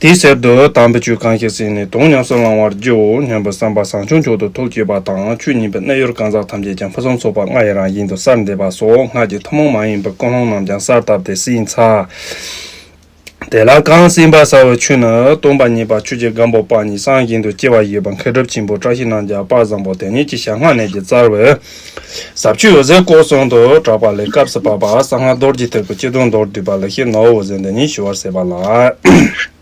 དེའི་གསེབ་ཏུ་དམ་པའི་ཆོས་གང་ཞིག་ཟིན་ནས་དོན་ཉམས་སུ་བླང་བར་བགྱིའོ་སྙམ་པའི་བསམ་པ་བཟང་ཆུང་མཆོག་ཏུ་ཐོབ་བགྱིད་པ་དང་ཆོས་ཉིད་པའི་རྣལ་འབྱོར་གང་ཟག་ཐམས་ཅད་ཀྱང་ཕུན་སུམ་ཚོགས་པ་ལྔ་ཡི་རང་བཞིན་དུ་གསར་འདེབས་པ་སོགས་སྔགས་ཀྱི་ཐུན་མོང་མ་ཡིན་པའི་ཀུན་སློང་རྣམས་ཀྱང་གསར་བཏབ་སྟེ་སྲིད་མཚར། དེ་ལ་གང་སྲིད་འབར་ཚ་བའི་ཆུ་ནི་སྟོང་པ་ཉིད་པ་ཆོས་ཀྱི་སྒམ་པོ་དཔག་ཉི་གསང་བཞིན་དུ་སྐྱེ་བ་བཞི་པ་མཁའི་སྒྲུབ་ཆེན་པོ་བཀྲ་ཤིས་སྣང་རྒྱ་དཔག་བཟང་པོ་དེ་ཉིད་ཀྱི་ཞལ་སྔ་ནས་ཀྱི་རྩར་བའི། ཟབ་ཆོས་འོད་ཟེར་བཀོད་གསུང་དུ་གྲགས་པ་ལས་སྐབས་སུ་བབས་པ་གསང་སྔགས་རྡོ་རྗེ་ཐེར་ཕུར་སྤྱི་དོན་མདོར་བསྡུས་པ་ལས་ཤེས་ནོར་འོད་ཟེར་འདི་ཉིད་ཞུ་བར་ཟད་པ་ལགས།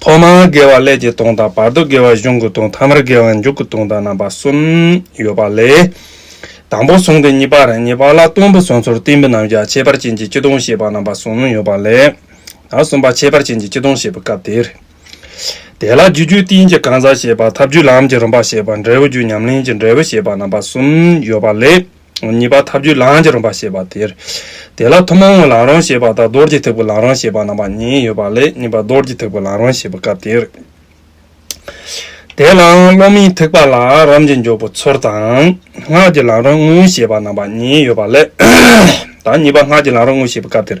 ཐོག་མར་དགེ་བ་ཀླད་ཀྱི་སྟོང་དང་བར་དུ་དགེ་བ་གཞུང་གི་སྟོང་ཐ་མར་དགེ་བ་མཇུག་གི་སྟོང་དང་རྣམ་པ་གསུམ་ཡོད་པ་ལས། དང་པོ་གསུང་གི་གཉིས་པ་རེ་གཉིས་པ་ལ་སྟོང་པའི་གསུང་ཚོར་གཏིང་པའི་རྣམ་གཞག་ཁྱད་པར་ཅན་གྱི་སྤྱི་སྟོང་བཤད་པ་རྣམ་པ་གསུམ་ཡོད་པ་ལས། གསུམ་པ་ཁྱད་པར་ཅན་གྱི་སྤྱི་སྟོང་བཤད་པའི་སྐབས་དེར། དེ་ལ་རྒྱུ་རྒྱུད་བསྟན་གྱི་གང་ཟག་ཤེས་པ་ཐབས་རྒྱུད་ལམ་གྱི་རིམ་པ་ཤེས་པ་འབྲས་བུ་རྒྱུད་ཉམས་ལེན་གྱི་འབྲས་བུ་ཤེས་པ་རྣམ་པ་གསུམ་ཡོད་པ་ལས། གཉིས་པ་ཐབས་རྒྱུད་ལམ་གྱི་རིམ་པ་ཤེས་པ་དེར། དེ་ལ་ཐུན་མོང་ངོ་ལམ་རང་ཤེས་པ་དང་རྡོར་གྱི་ཐེག་པའི་ལམ་རང་ཤེས་པ་རྣམ་པ་གཉིས་ཡོད་པ་ལས་གཉིས་པ་རྡོར་གྱི་ཐེག་པའི་ལམ་རང་ཤེས་པའི་སྐབས་དེར། དེ་ལའང་སློབ་མའི་ཐེག་པ་ལ་རམ་གྱི་འཇོག་པོ་ཚུར་དང། སྔགས་ཀྱི་ལམ་རང་དངོས་ཤེས་པ་རྣམ་པ་གཉིས་ཡོད་པ་ལས། དང་གཉིས་པ་སྔགས་ཀྱི་ལམ་རང་དངོས་ཤེས་པའི་སྐབས་དེར།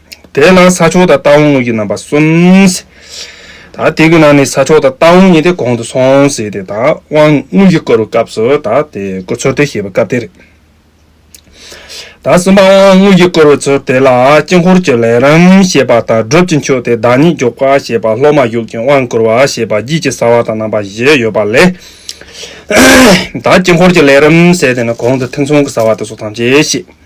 དེའི་ནང་ས་ཆོག་དང་རྟ་བོང་དངུལ་གྱི་རྣམ་པ་གསུམ། ད་དེ་གི་ནང་ནས་ས་ཆོག་དང་རྟ་བོང་གཉིས་དེ་གོང་དུ་སོང་ཟེར་ཏེ་ད་དབང་དངུལ་གྱི་སྐོར་བའི་སྐབས་སུ་ད་དེ་སྐོར་ཚོད་ལྟའི་ཞེས་པའི་སྐབས་དེ་རེད། ད་གསུམ་པ་དབང་དངུལ་གྱི་སྐོར་བའི་ཚུལ་དེ་ལ་དཀྱིལ་འཁོར་གྱི་ལས་རིམ་ཞེས་པ་དང་སྒྲུབ་ཀྱི་མཆོད་དེ་བདག་ཉིད་རྒྱུག་པ་ཞེས་པ་སློབ་མ་གཞུག་ཅིང་དབང་བསྐུར་བ་ཞེས་པ་རྒྱུད་ཀྱི་ས་བ་དང་རྣམ་པ་བཞི་ཡོད་པ་ལས། ད་དཀྱིལ་འཁོར་གྱི་ལས་རིམ་ཟེར་དེ་ནི་གོང་དུ་ཐེ་ཚོམ་གྱི་ས་བ་དེ་སོགས་ཐམས་ཅད་བཤད།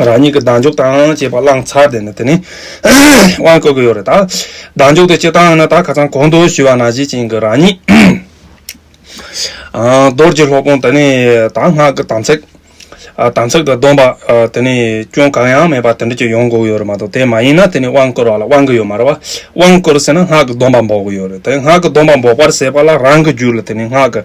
རང་ཉིད་ཀྱི་གདངས་འཇུག་དང་བཅས་པ་བླངས་ཚར་དེ་ནི་དེ་ནི་དབང་བསྐུར་གྱི་ཡོད་རེད་ད། གདངས་འཇུག་དེ་སྤྱིར་བཏང་ཡིན་ན་ད་ཁ་ཚང་གོང་དུ་ཞུས་བ་ན་གཞི་བྱིན་གྱི་རང་ཉིད། རྡོར་གྱི་སློབ་དཔོན་དེ་ནི་ད་སྔགས་ཀྱི་དམ་ཚིག། དམ་ཚིག་དང་སྡོམ་པ་དེ་ནི་སྐྱོན་གང་ཡང་མེད་པ་དེ་འདྲ་ཅིག་ཡོང་དགོས་ཀྱི་ཡོད་རེད་མ་གཏོགས་དེ་མ་ཡིན་ན་དེ་ནི་དབང་བསྐུར་བ་ལ་དབང་གི་ཡོད་མ་རེད། དབང་བསྐུར་ཟེར་ན་སྔགས་ཀྱི་སྡོམ་པ་འབོག་གི་ཡོད་རེད་དེ་སྔགས་ཀྱི་སྡོམ་པ་འབོག་པར་ཟེར་བ་ལ་རང་གི་རྒྱུད་ལ་དེ་ནི་སྔགས་ཀྱི།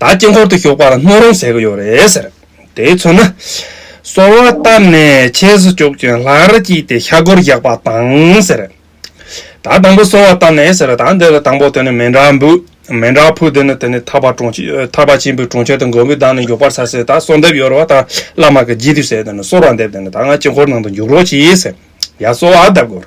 ད་དཀྱིལ་འཁོར་དུ་ཞོགས་པ་ལ་སྣོད་རུང་ཟེར་གྱི་ཡོད་རེད་ཟེར། དེའི་ཚོད་ན། སོལ་བ་བཏབ་ནས་ཆས་སུ་བཅུག་ཅིང་ལྷར་བསྐྱིལ་ཏེ་ཤ་གུར་བཞག་པ་དང་ཟེར། ད་དང་པོ་སོལ་བ་བཏབ་ནས་ཟེར་ད་འདི་ལ་དང་པོ་དེ་ནི་མེ་འདྲ་འབུལ། མེ་འདྲ་ཕུལ་དེ་ནི་དེ་ནི་ཐར་པ་དྲུང་ཆེ་ཐར་པ་ཆེན་པོའི་དྲུང་ཆེ་དང་མགོན་པོའི་བདག་ནི་མགྱོགས་པར་ཟ་ཟེར་ད་སོལ་འདེབས་ཡོད་རེད་བ་ད་བླ་མ་གི་རྗེས་དུས་ཟེར་དེ་ནི་སོལ་བ་འདེབས་དེ་ནི་ད་ང་དཀྱིལ་འཁོར་ནང་དུ་འཇུག་རོགས་གྱིས་ཟེར། ཡ་སོལ་བ་བརྡབས་དགོས།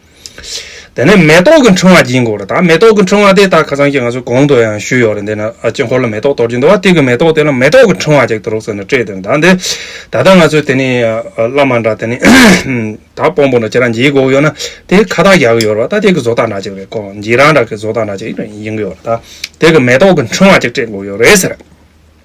དེ་ནས་མེ་ཏོག་གི་འཕྲེང་བ་སྦྱིན་དགོས་རེད་དཱ། མེ་ཏོག་གི་འཕྲེང་བ་དེ་ད་ཁ་སང་ཀྱི་ང་ཚོའི་གོང་དུ་ཡང་ཞུས་ཡོད་རེད་འདི་ན་དཀྱིལ་འཁོར་ལ་མེ་ཏོག་གཏོར་གྱིན་འདུག་བ་དེ་གི་མེ་ཏོག་དེ་ལ་མེ་ཏོག་གི་འཕྲེང་བ་ཅིག་ཏུ་རོགས་ཟེར་ནས་སྤྲད་འདུག་གདའ་འདི། ད་ལྟ་ང་ཚོས་དེ་ནི་བླ་མ་འདྲ་དེ་ནི་ད་སྤོམ་པོ་འདྲ་ཁྱེད་རང་འཇིགས་དགོས་ཡོད་ན་དེ་ཁ་བཏགས་རྒྱག་གི་ཡོད་རེད་བ་ད་དེ་གི་བཟོ་ལྟ་འདྲ་ཅིག་རེད་ཀོ་འཇིགས་རང་འདྲ་གི་བཟོ་ལྟ་འདྲ་ཅིག་ཡིན་གི་ཡོད་རེད་དཱ། དེ་གི་མེ་ཏོག་གི་འཕྲེང་བ་ཅིག་སྤྲད་དགོས་ཡོད་རེད་ཟེར།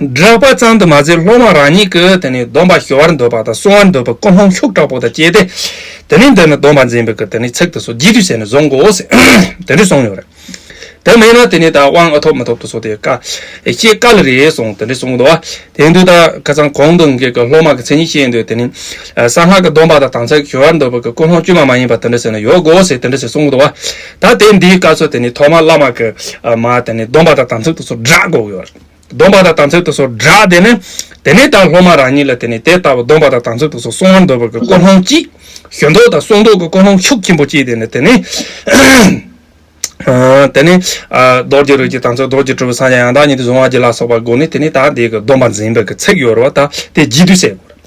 བསྒྲགས་པ་ཙམ་དུ་མ་ཟད་སློབ་མ་རང་ཉིད་ཀྱི་དེ་ནས་སྡོམ་པ་ཞི་བར་འདོད་པ་དང་བསྲུང་བར་འདོད་པའི་ཀུན་སློང་ཤུགས་དྲག་པོ་དང་བཅས་ཏེ། དེ་ནས་འདི་ནི་སྡོམ་པ་འཛིན་པའི་ཀྱི་དེ་ནི་ཚིག་དུ་སོ་བགྱིད་དུས་ཟད་ནས་བཟུང་གོ། དེ་འདྲས་གསུངས་ཡོད་རེད། དེ་མིན་ན་དེ་ནི་དང་དབང་ཐོབ་མི་ཐོབ་ཏུ་སོ་དེ་ཀ་ཤེས་དཀའ་ལ་རེ་གསུངས་དེ་འདྲས་གསུངས་འདུག་དེ་འདུག་ད་ཁ་ཚང་གོང་དུ་འགལ་གྱི་སློབ་མ་ཀྱི་མཚན་ཉིད་བཤད་འདོད་དེ་ནི། གསང་སྔགས་ཀྱི་སྡོམ་པ་དང་དང་ཚད་ཀྱི་ཞི་བར་འདོད་པའི་ཀྱི་ཀུན་སློང་དཀྱུས་མ་མ་ཡིན་པ་དེ་འདྲས་ཟེར་ན་ཡོད་གོ་ཞེས་དེ་འདྲས་ཞེས་གསུངས་འདུག་ད་དེ་འདིའི་བཀའ་སྲོལ་དེ་ནི་ཐོག་མར་བླ་མ་ཀྱི་མ་དེ་ནི་སྡོམ་པ་དང་དམ་ཚིག་ཏུ་སོ་བསྒྲགས་འགོག་ཡོད། སྡོམ་པ་དང་དམ་ཚིག་ཏུ་སོགས་བསྒྲགས་དེ་ནི། དེ་ནས་དང་སློབ་མ་རང་ཉིད་ལ་དེ་ནས་དེ་ལྟ་བུ་སྡོམ་པ་དང་དམ་ཚིག་ཏུ་སོགས་གསུང་བར་འདོད་པ་གི་ཀོ་ལྷོང་ཅིག། ཞོན་མདོག་དང་སོག་མདོག་གི་ཀོ་ལྷོང་ཤུགས་ཆེན་པོ་ཅིག་དེ་ནི་དེ་ནི། དེ་ནི། རྡོ་རྗེ་རོལ་གྱི་དམ་ཚིག་རྡོ་རྗེ་གྲུབ་པའི་སངས་རྒྱས་ཡང་དག་ཉིད་དུ་བཟུང་བ་བགྱིས་ལ་སོགས་པ་དགོངས་ནས་དེ་ནས་དག་འདས་ཀྱི་སྡོམ་པ་འཛིན་པའི་ཚིག་ཡོད་རོ་དག་དེ་བགྱིད་དུས་སེ་གོ་རེ།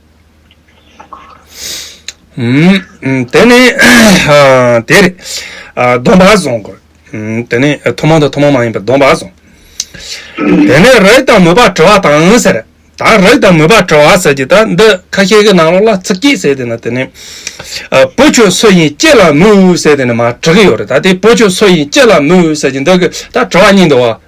དེ་ནི་དེ་རེད། སྡོམ་པ་བཟུང་དགོས། དེ་ནི་ཐུན་མོང་དང་ཐུན་མོང་མ་ཡིན་པའི་སྡོམ་པ་བཟུང། དེ་ནས་རེག་དང་མོས་པ་དྲི་བ་དང་ཟེར། ད་རེག་དང་མོས་པ་དྲི་བ་ཟེར་གྱི་ད་འདི་ཁ་ཤས་ཀྱི་ནང་ལོགས་ལ་ཚིག་སྐྱིད་ཟེར་དེ་ནི་དེ་ནི། བུ་ཁྱོད་སུ་ཡིན་ཅི་ལ་མོས་ཟེར་དེ་ནི་མ་དྲི་གི་ཡོད་རེད་ད་དེ་བུ་ཁྱོད་སུ་ཡིན་ཅི་ལ་མོས་ཟེར་གྱི་འདི་གི་ད་དྲི་བ་གཉིས་འདུག་བ།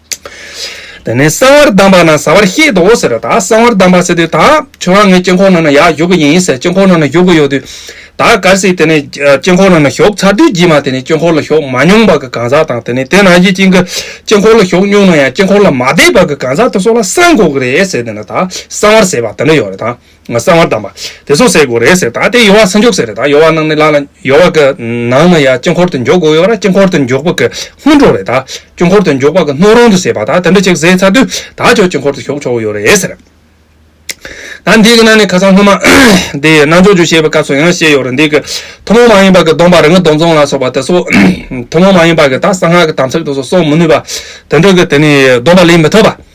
དེ་ནས་གསང་བར་གདམས་པ་ན་བཟའ་བར་ཤེས་དོ་ཟེར་བ་དག་གསང་བར་གདམས་པ་ཟེར་དུས་དག་ཁྱོད་རང་ངའི་དཀྱིལ་འཁོར་ནང་ན་ཡག་བཞུགས་གི་ཡིན་ཟེར་དཀྱིལ་འཁོར་ནང་ན་བཞུགས་གི་ཡོད་དུས་དག་གར་སྲིད་དེ་ནས་དཀྱིལ་འཁོར་ནང་ན་ཞོག་ཚར་དུས་རྗེས་མ་དེ་ནས་དཀྱིལ་འཁོར་ལ་ཞོག་མ་མྱོང་བར་གྱི་གང་ཟག་དང་དེ་ནས་དེ་ནང་བཞིན་ཅིག་གི་དཀྱིལ་འཁོར་ལ་ཞོག་མྱོང་ན་ཡང་དཀྱིལ་འཁོར་ལ་མ་བསྡད་བར་གྱི་གང་ཟག་དེ་སོགས་ལ་གསང་དགོས་ཀྱི་རེད་ཟེར་དེ་ནས་དག་གསང་བར་ཟེར་བ་དེ་འདྲ་ཡོད་རེད་དང། གསང་བར་གདམས་པ། དེ་སོགས་ཟེར་དགོས་རེད་ཟེར་ད་ལྟའི་ཡོལ་བ་ས་མགྱོགས་ཟེར་རེད་ད་ཡོལ་བ་ནང་ནས་བླངས་ན་ཡོལ་བ་གི་ནང་ན་ཡ་དཀྱིལ་འཁོར་དུ་མགྱོགས་དགོས་ཡོད་ར་དཀྱིལ་འཁོར་དུ་མགྱོགས་པ་གི་སྔོན་འགྲོ་རེད་ད་དཀྱིལ་འཁོར་དུ་མགྱོགས་པ་གི་སྣོད་རུང་དུ་ཟེར་བ་ད་དེ་འདྲ་ཅིག་ཟེར་ཚར་དུས་ད་ཅོག་དཀྱིལ་འཁོར་དུ་ཞོག་ཆོག་གི་ཡོད་རེད་ཟེར། ད་འདི་གི་ནང་ནས་ཁ་སང་སྔོན་མ་འདི་ནང་ཆོག་ཆོག་བཤད་པའི་སྐབས་སུ་ཡང་བཤད་ཡོད་རེད་འདི་གི་ཐུན་མོང་མ་ཡིན་པ་གི་སྡོམ་པ་རིག་སྔགས་སྡོམ་བརྩོན་ལ་སོགས་པ་དེ་སོགས་ཐུན་མོང་མ་ཡིན་པ་གི་ད་གསང་སྔགས་ཀི་དམ་ཚིག་དེ་སོགས་གསོག་མི་ནུས་པ་དེ་འདྲ་གི་དེ་ནི་སྡོམ་པ་ལེན་མི་ཐུབ་པ།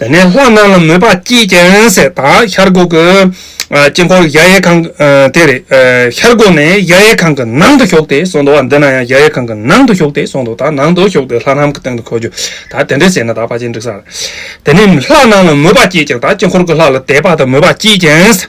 དེ་ནས་ལྷ་རྣམས་ལ་མོས་པ་སྐྱེས་ཀྱང་ཟས་དང་ཤར་སྒོ་གི་དཀྱིལ་འཁོར་གཞལ་ཡས་ཁང་དེར་ཤར་སྒོ་ནས་གཞལ་ཡས་ཁང་གི་ནང་དུ་ཞོག་སྟེ་སོང་དོ། འདི་ན་ཡང་གཞལ་ཡས་ཁང་གི་ནང་དུ་ཞོག་སྟེ་སོང་དོ་དང་ནང་དུ་ཞོག་སྟེ་ལྷ་སྣམ་གྱི་སྟེང་དུ་འཁོད་རྒྱུ་དང་དེ་འདྲའི་ཟས་ནི་དག་པ་ཅན་འབྲུག་སར་དེ་ནས་ལྷ་རྣམས་ལ་མོས་པ་སྐྱེས་ཀྱང་དག་དཀྱིལ་འཁོར་གྱི་ལྷ་ལ་དད་པ་དང་མོས་པ་སྐྱེས་ཀྱང།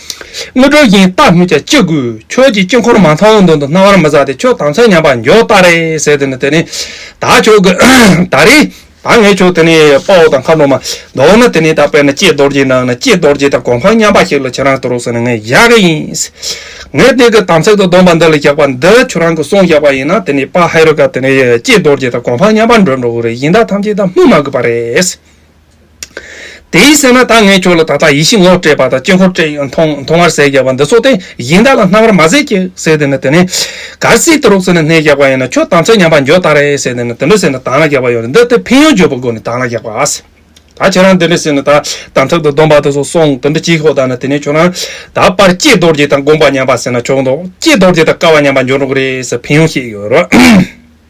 དངོས་གྲུབ་བཞིན་རྟག་སྨིན་བྱ་ཅི་དགོས། ཁྱོད་ཀྱི་དཀྱིལ་འཁོར་མ་མཐོང་མདུན་དུ་སྣང་བར་མི་བཟའ་སྟེ་ཁྱོད་དང་ཚེ་ཉམས་པ་མགྱོགས་ལྟར་རེ་ཟད་དེ་ནི་དེ་ནི་ད་ཁྱོད་ཀྱི་ད་རེ་ད་ངས་ཁྱོད་དེ་ནི་དཔའ་བོ་དང་མཁའ་འགྲོ་མ་མདོར་ན་དེ་ནི་ད་དཔེར་ན་སྐྱེས་རྡོར་གྱི་ནང་ན་སྐྱེས་རྡོར་གྱི་ད་གོ་འཕང་མཉམ་པ་ཞིག་ལ་ཁྱེད་རང་དུ་རོགས་ཟེར་ནས་ངས་བཞག་གི་ཡིན། ངས་དེ་གི་དམ་ཚིག་ཏུ་སྡོམ་པ་འདི་ལ་བཞག་པ་འདི་ཁྱོད་རང་གི་གསུང་བཞག་པ་ཡིན་ན་དེ་ནི་དཔའ་ཧེ་རུ་ཀ་དེ་ནི་སྐྱེས་རྡོར་གྱི་ད་གོ་འཕང་མཉམ་པར་འགྲོ་འགྲོ་གི་རེད་ཡིན་ད་ཐམས་ཅད་ད་སྨོས་མ་དགོས་པ་རེད། དེ་ཡི་སེམས་ལ་ད་ངས་ཁྱོད་ལ་ད་ལྟ་ཡིད་བཞིན་ངོ་སྤྲད་པ་དང་དཀྱིལ་འཁོར་སྤྲད་མཐོང་བར་ཟས་བརྒྱབ་པ་འདི་ཚོ་དེ་བཞིན་བདག་ལ་སྣང་བར་མ་ཟད་ཀྱི་ཟས་དེ་ནི་དེ་ནས་གར་སིག་ཏུ་རུག་ཚེ་ནི་སྣས་བརྒྱག་པ་ཡིན་ནོ་ཁྱོད་དམ་ཚིག་ཉམས་པ་འགྱོད་ད་རེ་ཟས་དེ་ནི་དེ་འདྲ་ཟས་ནི་དང་ལ་བརྒྱག་པ་ཡོད་རེ་འདི་དེ་ཕན་ཡོན་བརྗོད་པའི་སྒོ་ནས་དང་ལ་བརྒྱག་པ་ཨཱ། ད་ཁྱོད་རང་དེ་འདྲ་ཟས་ནི་ད་དམ་ཚིག་ཏུ་སྡོམ་པ་དེ་ཚོ་སོང་དེ་འདྲ་གྱིས་ཤོག་ད་ནི་དེ་ནས་ཁྱོད་རང་ད་པར་ལྕེ་རྡོ་རྗེ་དང་དགོངས་པ་ཉམས་པ་ཟས་ན་ཆོག་མདོག་ལྕེ་རྡོ་རྗེ་དང་སྐལ་བ་ཉམས་པ་འགྱོད་འགྲོ་གི་རེད་ཟེར་ཕན་ཡོན་ཤེས་ཀྱི་ཡོད་རེད།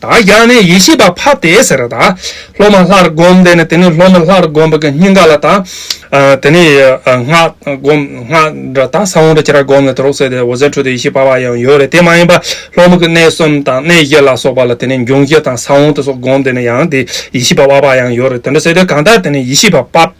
དག་རྒྱག་ནས་ཡེ་ཤེས་པ་ཕབ་སྟེ་ཟེར་ར་དག་སློབ་མ་ལྷར་བསྒོམ་དེ་ནས་དེ་ནས་སློབ་མ་ལྷར་བསྒོམ་པ་གི་སྙིང་ག་ལ་དག་དེ་ནས་སྔགས་བསྒོམ་སྔགས་ར་དག་ས་བོན་ར་ཅི་ར་བསྒོམ་ནས་དེ་རོ་སོད་དེ་འོ་ཟེར་འཕྲོ་དེ་ཡེ་ཤེས་པ་བ་ཡང་ཡོད་རེད་དེ་མ་ཡིན་པ་སློབ་མ་གི་གནས་གསུམ་དང་གནས་བཞི་ལ་སོགས་པ་ལ་དེ་ནས་འབྱུང་བཞི་དང་ས་བོན་དེ་སོགས་བསྒོམ་དེ་ནས་ཡང་དེ་ཡེ་ཤེས་པ་བ་བ་ཡང་ཡོད་རེད་དེ་འདྲ་ཟེར་དེ་གང་དག་དེ་ནས་ཡེ་ཤེས་པ་ཕབ།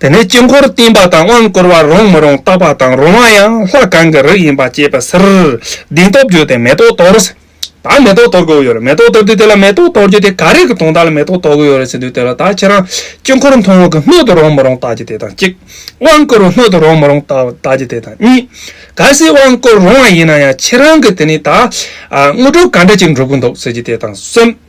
དེ་ནས་དཀྱིལ་འཁོར་བསྟན་པ་དང་དབང་བསྐུར་བ་རུང་མི་རུང་བརྟག་པ་དང་རུང་བ་ཡང་ལྷ་གང་གི་རིགས་ཡིན་པ་དཔྱད་པའི་ཕྱིར། གདིང་སྟོབས་བརྗོད་དེ་མེ་ཏོག་དོར། ད་མེ་ཏོག་དོར་དགོས་ཡོད་རེད་མེ་ཏོག་དོར་དུས་དེ་ལ་མེ་ཏོག་དོར་རྒྱུ་དེ་ག་རེ་གི་དོན་དག་ལ་མེ་ཏོག་དོར་དགོས་ཡོད་རེད་ཟེར་དུས་དེ་ལ་ད་ཁྱེད་རང་དཀྱིལ་འཁོར་མཐོང་བ་གི་སྣོད་དུ་རུང་མི་རུང་བརྟག་རྒྱུ་དེ་དང་གཅིག། དབང་བསྐུར་བ་སྣོད་དུ་རུང་མི་རུང་བརྟག་རྒྱུ་དེ་དང་གཉིས། གལ་སྲིད་དབང་བསྐུར་རུང་བ་ཡིན་ན་ཡང་ཁྱེད་རང་གི་དེ་ནི་ད། དངོས་གྲུབ་ག་འདྲ་ཅིག་འགྲུབ་ཀྱི་འདུག་ཟེར་རྒྱུ་དེ་དང་གསུམ།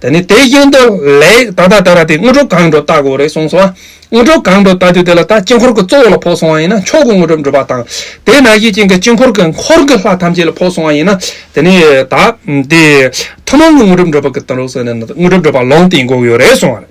ད་ནི་དེ་བཞིན་དུ་ལེགས་ད་ལྟ་དེ་ལ་དེ་དངོས་གྲུབ་གང་འགྲོ་ལྟ་དགོས་རེད་གསུངས་སོ། དངོས་གྲུབ་གང་འགྲོ་ལྟ་དུས་དེ་ལ་ད་དཀྱིལ་འཁོར་གྱི་གཙོ་བོ་ལ་ཕོག་སོང་བ་ཡིན་ན་མཆོག་གི་དངོས་གྲུབ་འགྲུབ་པ་དང། དེས་ན་གཞི་བྱིན་གྱི་དཀྱིལ་འཁོར་གྱི་འཁོར་གྱི་ལྷ་ཐམས་ཅད་ལ་ཕོག་སོང་བ་ཡིན་ན། དེ་ནི་ད། དེ། ཐུན་མོང་གི་དངོས་གྲུབ་འགྲུབ་པ་གྱི་དོན་རོགས་ཟེར་ནས་ན་དངོས་གྲུབ་འགྲུབ་པ་ལོང་སྟེ་འགོག་ཡོད་རེད་གསུངས་བ་རེད།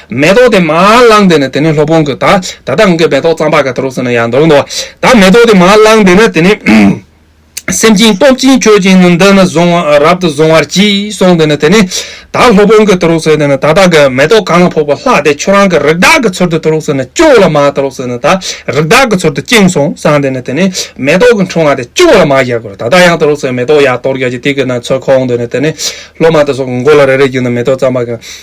མེ་ཏོག་དེ་མར་བླངས་དེ་ནི་དེ་ནི་སློབ་དཔོན་གྱིས་ད་ད་ལྟ་ང་གིས་མེ་ཏོག་གཙང་པ་ག་དུ་རུ་ཟིན་ན་ཡང་འདོགས་འདོགས། ད་མེ་ཏོག་དེ་མར་བླངས་དེ་ནི་དེ་ནི། སེམས་ཅན་སྟོབས་ཅན་མཆོད་ཅིང་ནི་འདི་ནི་བཟུང་རབ་ཏུ་བཟུང་བར་གྱིས་གསུངས་དེ་ནི་དེ་ནི། ད་སློབ་དཔོན་གྱིས་དུ་རུ་ཟེར་དེ་ནི་ད་ད་གའི་མེ་ཏོག་གང་ལ་ཕོག་པ་ལྷག་དེ་ཁྱོད་རང་གི་རིགས་བདག་གི་ཚུལ་དུ་དུ་རུ་ཟེར་ནི་སྐྱོ་ལ་མ་དུ་རུ་ཟེར་ནི་ད་རིགས་བདག་གི་ཚུལ་དུ་བཅིངས་གསུངས་སངས་དེ་ནི་དེ་ནི། མེ་ཏོག་གི་འཁྲུངས་བ་དེ་སྐྱོ་ལ་མ་བཞག་གོ་ད་ད་ཡང་དུ་རུ་ཟེར་མེ་ཏོག་ཡར་དོར་བརྒྱག་ཅིང་སྟེགས་ཀྱི་ནང་ཚོད་ཁོང་དེ་ནི་དེ་ནི། སློབ་མ་དེ་སོགས་ཀྱི་མགོ་ལ་རེ་རེ་བརྒྱུགས་ནས་མེ་ཏོག་གཙང་པ་ག།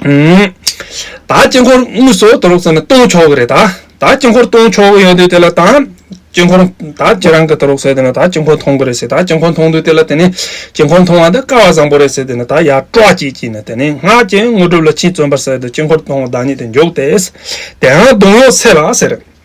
ད་དཀྱིལ་འཁོར་དངོས་སུ་དུ་རོགས་ཟེར་ན་སྟོང་ཆོག་གི་རེད་ད། ད་དཀྱིལ་འཁོར་སྟོང་ཆོག་གི་ཡོད་དུས་དེ་ལ་ད་དཀྱིལ་འཁོར་ད་ཁྱེད་རང་གི་དུ་རོགས་ཟེར་དུས་ན་ད་དཀྱིལ་འཁོར་མཐོང་གི་རེད་ཟེར་ད་དཀྱིལ་འཁོར་མཐོང་དུས་དེ་ལ་དེ་ནི་དཀྱིལ་འཁོར་མཐོང་བ་འདི་དཀའ་བ་བཟང་པོ་རེད་ཟེར་དུས་ན་ད་ཡར་ཀྲོག་ཅིག་བགྱིས་ན་དེ་ནི་སྔགས་ཀྱི་དངོས་གྲུབ་ལ་ཕྱིན་བརྩོན་པར་ཟེར་དུས་དཀྱིལ་འཁོར་མཐོང་བ་བདག་ཉིད་དུ་འཇོག་སྟེ། དེའང་གདུང་གཡོགས་ཚད་ལ་ཟེར།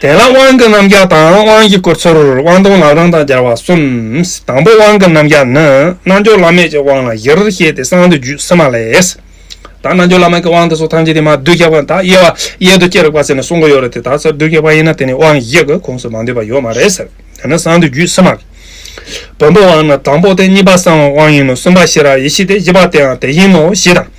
དེ་ལ་དབང་གི་རྣམ་གཞག་དང་དབང་གི་སྐུར་ཚུར་དབང་སྟོང་ལག་རང་དང་སྦྱར་བ་གསུམ། དང་པོ་དབང་གི་རྣམ་གཞག་ནི་རྣལ་འབྱོར་བླ་མེད་ཀྱི་དབང་ལ་བཞིར་བཤད་དེ་གསང་དུ་རྒྱུད་སིལ་མ་ལས། དང་རྣལ་འབྱོར་བླ་མེད་ཀྱི་དབང་དེ་སོགས་ཐམས་ཅད་དེ་མ་བསྡུས་ཁྱབ་བ་དག་དབྱེ་བ་གཡས་དུ་ཅི་རིགས་པ་ཟེར་ནས་གསུང་གི་ཡོད་རེད་དེ་དག་ཚར་བསྡུས་ཁྱབ་བ་ཡིན་ན་དེ་ནི་དབང་བཞི་གི་ཁོངས་སུ་མ་འདུས་པ་ཡོད་མ་རེད་ཟེར། དེ་ནི་གསང་དུ་རྒྱུད་སིལ་མ་ལས། བོན་པོ་དབང་ནི་དང་པོ་སྟེ་གཉིས་པ་གསང་བའི་དབང་ཡིན་ནོ་གསུམ་པ་ཤེས་རབ་ཡེ་ཤེས་ཏེ་བཞི་པ་དེའང་དེ་བཞིན་ནོ་ཞེས་དང།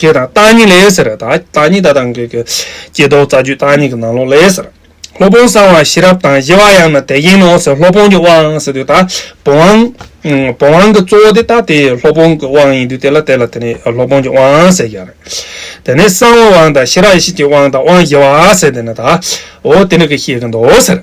ཀྱེ་དང་བརྟག་གཉིས་ལས་ཟེར། བརྟག་གཉིས་ད་དང་གི། ཀྱེ་རྡོག་རྩ་རྒྱུད་བརྟག་གཉིས་ཀྱི་ནང་ལོགས་ལས་ཟེར། སློབ་དཔོན་གསང་བ་ཤེས་རབ་དང་བཞི་བ་ཡང་ན་དེ་བཞིན་ནོ་ཟེར་སློབ་དཔོན་གྱི་དབང་ཟེར་དུས་ད་བུམ་དབང། བུམ་དབང་གི་གཙོ་བོ་དེ་ད་དེ་སློབ་དཔོན་གྱི་དབང་ཡིན་དུས་དེ་ལ་དེ་ལ་དེ་ནི་སློབ་དཔོན་གྱི་དབང་ཟེར་ཡང་རེད། དེ་ནས་གསང་བའི་དབང་དང་ཤེས་རབ་ཡེ་ཤེས་ཀྱི་དབང་དང་དབང་བཞི་བ་ཟེར་དེ་ནི་ད་འོ་དེ་ནི་གི་ཤེས་ཀྱི་མདོ་ཟེར།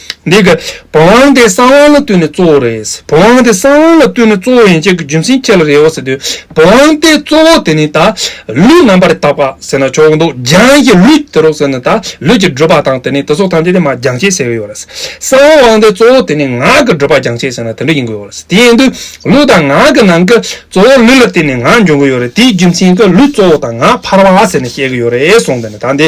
འདི་ག། བོང་བང་དེ་གསང་བང་ལ་བསྟུན་ནས་གཙོ་བོ་རེད། བོང་བང་དེ་གསང་བང་ལ་བསྟུན་ནས་གཙོ་བོ་ཡིན་ཅེས་ཀྱི་རྒྱུ་མཚན་ཁྱེད་ལ་རེད་བ་ཟེར་དུས། བོང་བང་དེ་གཙོ་བོ་དེ་ནི་ད། ལུས་རྣམ་པར་དག་པ་ཟེར་ན་ཆོག་གི་འདུག་རྒྱང་ཞེས་ལུས་དེ་རོགས་ཟེར་ན་ད་ལུས་ཀྱི་བགྲོད་པ་དང་དེ་ནི་དེ་སོགས་ཐམས་ཅད་དེ་མ་རྒྱང་ཞེས་ཟེར་གྱི་ཡོད་རེད། གསང་བང་དེ་གཙོ་བོ་དེ་ནི་ངག་གི་བགྲོད་པ་རྒྱང་ཞེས་ཟེར་ན་དེ་འདྲ་ཡིན་དགོས་ཡོད་རེད། དེ་ཡིན་དུས། ལུས་དང་ངག་གི་ནང་གི་གཙོ་བོ་ལུས་ལ་བརྟེན་ནས་ངག་འབྱུང་གི་ཡོད་རེད་དེའི་རྒྱུ་མཚན་གྱི་ལུས་གཙོ་བོ་དང་ངག་འཕར་བ་ཟེར་ནས་བཤད་ཀྱི་ཡོད་རེད་གསུངས་དེ་ནི་ད་འདི་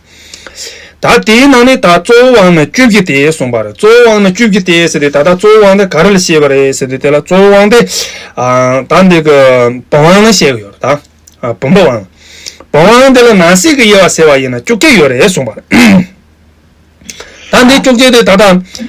ད་དེའི་ནང་ནས་ད་གཙོ་བོ་དབང་ན་བཅུ་བཞི་སྟེ་གསུངས་པར་གཙོ་བོ་དབང་ན་བཅུ་བཞི་སྟེ་ཟེར་ཏེ་ད་ལྟ་གཙོ་བོ་དབང་དེ་ག་རེ་ལ་བྱེད་པ་རེད་ཟེར་ཏེ་དེ་ལ་གཙོ་བོ་དབང་དེ། ད་འདི་གི་བུམ་དབང་ན་བཤད་ཀྱི་ཡོད་རེད་ད། བུམ་པ་དབང། བུམ་དབང་དེ་ལ་ནང་གསེས་ཀྱི་དབྱེ་བ་ཟེར་བ་ཡིན་ན་བཅུ་བརྒྱད་ཡོད་རེད་གསུངས་པར། ད་འདི་བཅུ་བརྒྱད་དེ་ད་ལྟ།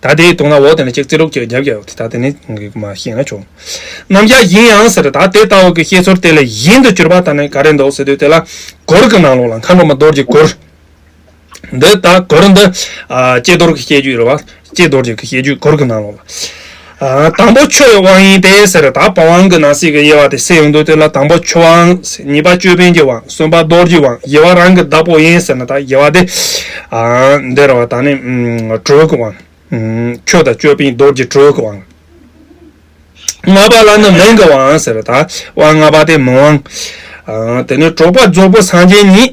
ད་དེའི་དུང་ལ་འོག་དེ་ནས་ཅིག་ཙི་ལུག་ཅིག་རྒྱབ་རྒྱབ་ཡོང་ད་དེ་ནས་ཁོང་གིས་མ་ཤེས་ན་ཆོག་ནམ་ཞག་ཡིན་ཡང་ཟེར་ད་དེ་ལྟ་བུ་གི་ཤེས་ཚོར་དེ་ལས་གཞན་དུ་གྱུར་པ་ད་ནི་ག་རེ་འདུག་ཟེར་དུས་དེ་ལ་གོར་གི་ནང་ལོགས་ལ་མཁའ་འགྲོ་མ་རྡོར་གྱི་གོར་འདི་ད་གོར་འདི་ཨ་ལྕེ་རྡོར་གྱི་སྐྱེས་རྒྱུད་རེད་བ་ལྕེ་རྡོར་རྒྱུད་ཀྱི་སྐྱེས་རྒྱུད་གོར་གི་ནང་ལོགས་ལ། དང་པོ་འཆོལ་བའི་དབང་ཡིན་ཏེ་ཟེར། ད་པ་དབང་གི་ནང་གསེས་ཀྱི་དབྱེ་བ་དེ་སེལ་ཡོང་དོན་དེ་ལ་དང་པོ་འཆོལ་དབང་ཟེར། གཉིས་པ་ཅོད་པན་གྱི་དབང། གསུམ་པ་རྡོར་གྱི་དབང། བཞི་བ་རང་གི་བདག་པོ་ཡིན་ཟེར་ན་ད་བཞི་བ་དེ། འདིར་བ་དང་ནི་དྲོད་ཀྱི་དབང། ཆོས་དང་ཅོད་པན་རྡོར་གྱི་དྲོད་ཀྱི་དབང། ལྔ་པ་ལ་ནི་མིང་གི་དབང་ཟེར། ད་དབང་ལྔ་པ་དེ་མིང་དབང། དེ་ནི་གྲོགས་པ་རྫོགས་པོ་སངས་རྒྱས་ཉིད།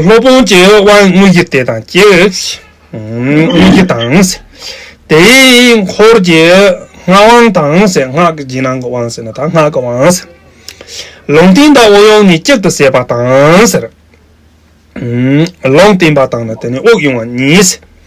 སློབ་དཔོན་གྱི་དབང་དངོས་ཀྱི་དེ་དང་སྐྱེས། དངོས་ཀྱི་དང། དེའི་འཁོར་གྱི་སྔགས་དབང་དང། སྔགས་ཀྱི་རྗེས་གནང་གི་དབང་ཟེར་ན་དང་སྔགས་ཀྱི་དབང། ལུང་བསྟན་དང་དབུགས་དབྱུང་ནི་གཅིག་ཏུ་བསྲེས་པ་དང། ལུང་བསྟན་པ་དང་ནི་དེ་ནི་དབུགས་དབྱུང་བ་གཉིས།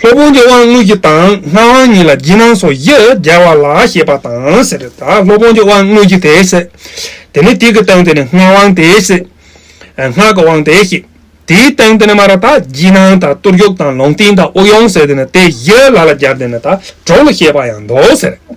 སློབ་དཔོན་གྱི་དབང་དངོས་ཀྱི་དང་སྔགས་དབང་གཉིས་ལ་བགྱི་སྣང་སོགས་བཞི་རྒྱལ་བ་ལ་ཞེས་པ་དང་ཟེར་ཏེ། སློབ་དཔོན་གྱི་དབང་དངོས་ཀྱི་དེ་སྲིད་དེ་ནི་དེ་གི་སྟེང་དུ་ནི་སྔགས་དབང་དེ་སྲིད་སྔགས་ཀྱི་དབང་དེ་སྲིད་དེའི་སྟེང་དུ་ནི་མ་ར་དག་བགྱི་སྣང་དང་གཏོར་རྒྱུག་དང་ལུང་བསྟན་དང་དབུགས་དབྱུང་ཟེར་ཏེ་ནི་དེ་བཞི་ལ་ལ་སྦྱར་ཏེ་ནི་དག་གྲོགས་ལ་ཞེས་པ་ཡང་མདོ་ཟེར།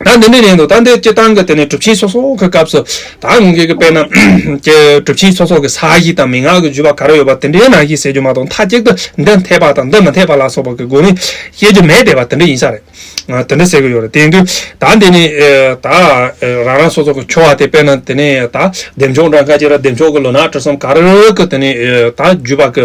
ད་འདི་འདྲའི་རིང་དུ་ད་འདི་སྤྱིར་བཏང་གི་དེ་ནས་གྲུབ་ཆེན་སོ་སོ་གི་སྐབས་སུ་ད་ངོས་ཀྱི་དཔེ་རྣམས་ཀྱི་གྲུབ་ཆེན་སོ་སོ་གི་ས་གཞི་དང་མི་ངག་གི་བརྒྱུད་པ་ག་རེ་ཡོད་པ་དེ་འདྲའི་ནང་བཞིན་ཟེར་རྒྱུ་མ་གཏོགས་མཐའ་གཅིག་ཏུ་འདི་འཐད་པ་དང་འདི་མི་འཐད་པ་ལ་སོགས་པ་གི་སྒོ་ནས་བཤད་རྒྱུ་མེད་བསྡད་པ་དེ་འདྲ་ཡིན་ས་རེད། དེ་འདྲ་ཟེར་གི་ཡོད་རེད་དེ་འདུག་ད་འདི་ནས་ད་རང་རང་སོ་སོ་གི་ཁྱོ་བ་དེ་དཔེར་ན་དེ་ནས་ད་འདེམས་ཆོག་འདྲ་མཁའ་ཅིག་ར་འདེམས་ཆོག་གི་ལོ་ན་བཀྲ་གསུམ་ག་རེ་རེ་གི་དེ་ནས་ད་བརྒྱུད་པ་གི་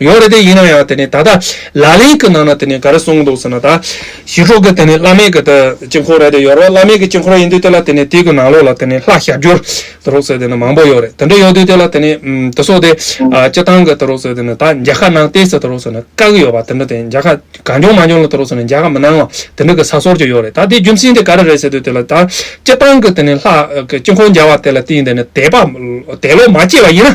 ཡོད་རེད་དེ་ཡིན་ན་ཡང་དེ་ནས་ད་ལྟ་ལ་ལས་ཀྱི་ནང་ན་དེ་ནས་ག་རེ་གསུངས་འདུག་ཟེར་ན་ད་ཞི་ཁྲོ་ཀྱི་དེ་ནས་བླ་མེད་ཀྱི་དེ་དཀྱིལ་འཁོར་རེད་དེ་ཡོད་རེད་བླ་མེད་ཀྱི་དཀྱིལ་འཁོར་ཡིན་དུས་དེ་ལ་དེ་ནས་དེ་ཀྱི་ནང་ལོགས་ལ་དེ་ནས་ལྷ་ཞབས་སྦྱོར་དེ་རོགས་ཟེར་དེ་ནས་མང་པོ་ཡོད་རེད་དེ་འདྲ་ཡོད་དུས་དེ་ལ་དེ་ནས་དེ་སོགས་དེ་སྤྱི་སྟངས་ཀྱི་དེ་རོགས་ཟེར་དེ་ནས་ད་མཇལ་ཁ་གནང་ལྟས་ཟེར་དེ་རོགས་ཟེར་ན་དཀའ་གི་ཡོད་པ་དེ་འདྲ་དེ་མཇལ་ཁ་གང་བྱུང་མ་བྱུང་ལ་དེ་རོགས་ཟེར་ན་མཇལ་ཁ་མི་གནང་བ་དེ་འདྲ་ཀྱི་ས་སོར་ཅིག་ཡོད་རེད་ད་དེ་རྒྱུ་མཚན་དེ་ག་རེ་རེད་ཟེར་དུས་དེ་ལ་ད་སྤྱི་སྟངས་ཀྱི་དེ་ནས་ལྷ་དཀྱིལ་འཁོར་མཇལ་བ་དེ་ལ་བརྟེན་དེ་ནས་དད་པ་དད་ལོག་མ་སྐྱེས་པ་ཡིན་ན།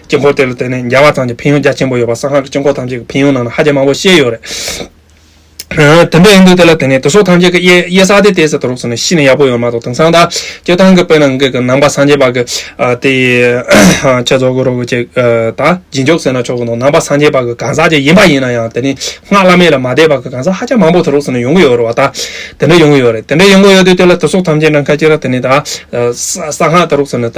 དཀྱིལ་འཁོར་དེ་ལ་བརྟེན་ནས་འཇའ་བ་ཐམས་ཅད་ཕན་ཡོན་རྒྱ་ཆེན་པོ་ཡོད་པ་གསང་སྔགས་ཀྱི་དཀྱིལ་འཁོར་ཐམས་ཅད་ཀྱི་ཕན་ཡོན་ནང་ན་ཧ་ཅང་མང་པོ་བཤད་ཡོད་རེད། དེ་འདྲ་ཡིན་དུས་དེ་ལ་བརྟེན་ནས་དེ་སོགས་ཐམས་ཅད་ཀྱི་གཡས་ས་དེ་ལྟས་ཟེར་དུ་རོགས་ཟེར་ནས་ཤི་ནས་ཡག་པོ་ཡོད་མ་གཏོགས་དེང་སང་ད་སྐྱེ་སྟངས་ཀྱི་དཔེ་ནང་གི་གི་ནང་པ་སངས་རྒྱས་པ་གི་དེ་ཆེ་རྫོགས་ཀྱི་རོ་གི་ཅེས་ད་རྗེས་འཇུག་ཟེར་ན་ཆོག་གི་འདུག་ནང་པ་སངས་རྒྱས་པ་གི་གང་ཟག་ཅིག་ཡིན་པ་ཡིན་ན་ཡང་དེ་ནི་སྔགས་བླ་མེད་ལ་མ་བཟླས་པ་གི་གང་ཟག་ཧ་ཅང་མང་པོ་དེ་རོགས་ཟེར་ནས་ཡོང་གི་ཡོད་རེད་བ་ད་དེ་འདྲ་ཡོང་གི་ཡོད་རེད་དེ་འདྲ་ཡོང་གི་ཡོད་དུས་དེ་ལ་དེ་སོགས་ཐམས་ཅད་ནང་ཁ་ཅིག་ལ་དེ་ནི་ད་གསང་སྔགས་དེ་རོགས་ཟེར་ནས་ད།